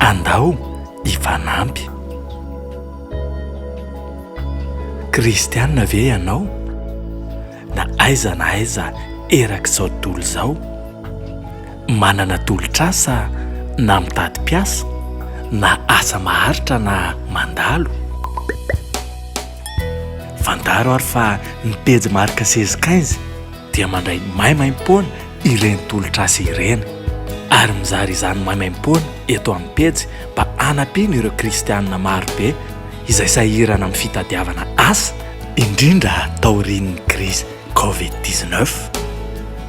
Andao hifanampy. Kristiana ve ianao? Na aiza na aiza erak'izao tontolo izao, manana tolotr'asa na mitady mpiasa na asa maharitra na mandalo? Fantaro ary fa ny pejy marc seize quinze dia mandray maimaimpoana. ireny tolotr'asa ireny ary mizara izany maimaimpoana eto amin'ny pejy mba hanampiana ireo kristiana maro be izay sahirana amin'ny fitadiavana asa, indrindra taorian'ny krizy covid dix neuf.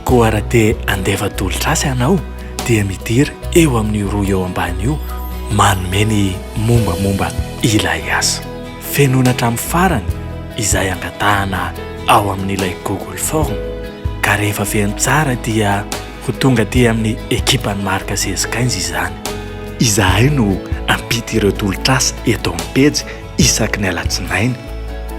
Koa raha te handefa tolotr'asa ianao dia midira eo amin'io rohy eo ambany io manome ny mombamomba ilay asa. fenoina hatramin'ny farany izay angatahana ao amin'ilay Google Form ka rehefa feno tsara dia ho tonga aty amin'ny ekipan'ny Marc Zezikainz izany. Izahay no hampita ireo tolotr'asa eto amin'ny pejy isaky ny alatsinainy.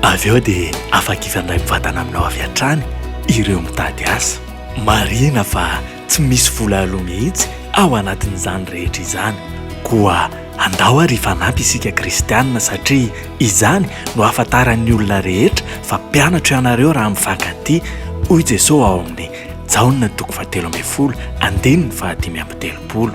Avy eo dia afaka hifandray mivantana aminao avy hatrany ireo mitady asa. Marihina fa tsy misy vola aloa mihitsy ao anatin'izany rehetra izany. Koa andao ary hifanampy isika kristianina satria izany no ahafantaran'ny olona rehetra fa mpianatro ianareo raha mifankatia, hoy Jesosy ao amin'ny Jaona toko fahatelo ambin'ny folo andininy fahadimy amby telopolo.